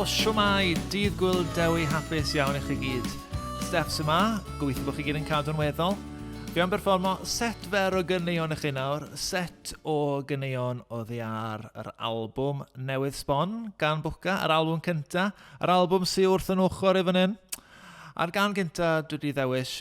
Shwmai, dydd gwyl dewi hapus iawn i chi gyd. Steph sy'n ma, gobeithio bod chi gyd yn cadw'n weddol. Fi am berfformo set fer o gyneuon i chi nawr, set o gyneuon o ddiar yr albwm newydd sbon gan Bwca, yr albwm cynta, yr albwm sy'n wrth yn ochr i fan hyn. A'r gan gynta dwi wedi ddewis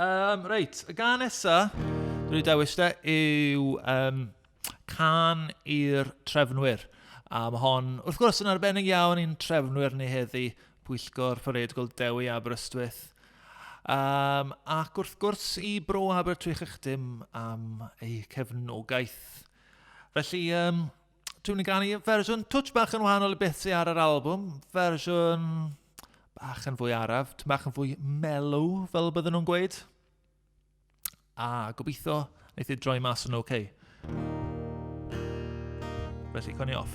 Um, reit, y gan nesa, dwi'n ei dewis te, yw um, Can i'r Trefnwyr. A mae hon, wrth gwrs, yn arbennig iawn i'n trefnwyr ni heddi, Pwyllgor Parade Gold Dewi Aberystwyth. Um, ac wrth gwrs i Bro Abertwych eich dim am eu cefnogaeth. Felly, um, Dwi'n mynd ganu fersiwn twtch bach yn wahanol i beth sy'n ar yr album. Fersiwn bach yn fwy araf, tyn bach yn fwy mellow, fel bydden nhw'n gweud. A gobeithio, wneud i droi mas yn oce. Okay. Felly, coni off.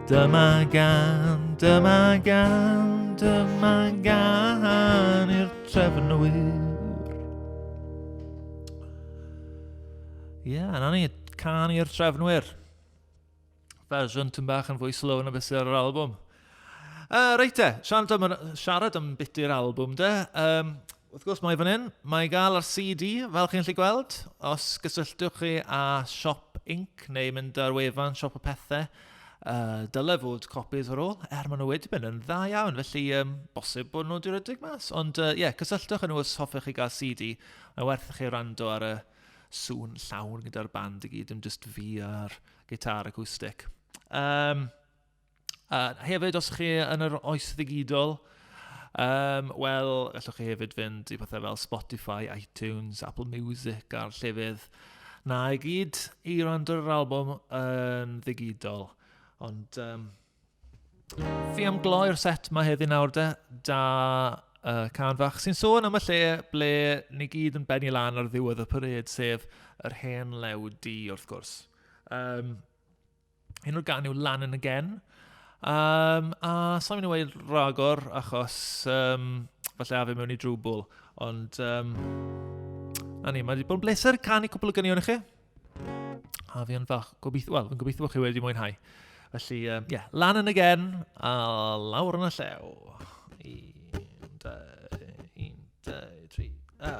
Dyma gan, dyma gan, dyma gan i'r trefnwyr. Ie, yeah, na ni, can i'r trefnwyr. Fersiwn tyn bach yn fwy slow yn y beth ar yr album. Uh, reit e, siarad am, siarad am biti'r album de. Um, Wrth gwrs mae fan hyn, mae gael ar CD fel chi'n lli gweld. Os gysylltwch chi â Siop Inc neu mynd ar wefan Siop y Pethau, uh, dyle fod copies ar ôl, er maen nhw wedi mynd yn dda iawn, felly um, bosib bod nhw wedi rhedeg mas. Ond ie, uh, yeah, cysylltwch â nhw os hoffech chi gael CD, mae werth i chi rando ar y sŵn llawn gyda'r band i gyd, dim just fi a'r gitar acoustic. Um, Uh, hefyd, os chi yn yr oes ddigidol, um, wel, allwch chi hefyd fynd i pethau fel Spotify, iTunes, Apple Music a'r llefydd na i gyd i rando yr album yn ddigidol. Ond um, fi am gloi'r set mae heddi nawr de, da uh, can fach sy'n sôn am y lle ble ni gyd yn benni lan ar ddiwedd y parade, sef yr hen lew di, wrth gwrs. Um, Un o'r gan yw Lan yn y Gen. Um, a sa'n mynd i weid ragor, achos um, falle a fe mewn i drwbl. Ond, um, na ni, mae wedi bod yn bleser canu cwpl o gynion i chi. A fi yn fach, gobeithio, wel, fi'n gobeithio bod chi wedi mwynhau. Felly, ie, um, yeah, lan yn y gen, a lawr yn y llew. Un, dau, un, dau, tri, a...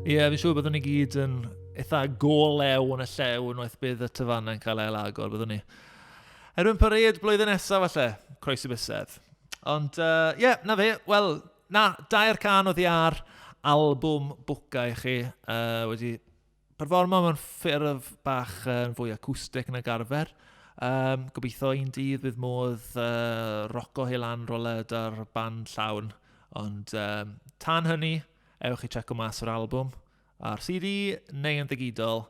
Ie, yeah, fi'n siŵr byddwn ni gyd yn eitha golew yn y llew yn waith bydd y tyfannau yn cael ei agor, byddwn ni. Erbyn parade blwyddyn nesaf falle, croesi bysedd. Ond, ie, uh, yeah, na fe, wel, na, dair can o ddiar album bwca i chi uh, wedi performo mewn ffurf bach uh, fwy acoustic nag arfer. Um, gobeithio un dydd bydd modd uh, roco hi lan roled ar band llawn. Ond um, tan hynny, ewch i checo mas o'r album a'r CD neu yn ddigidol.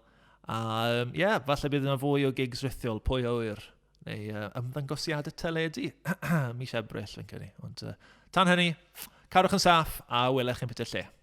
A ie, um, yeah, falle bydd yna fwy o gigs rithiol, pwy o wir, neu uh, ymddangosiadau teledu mis Ebrill fi'n credu. Ond uh, tan hynny, carwch yn saff a welech yn beth lle.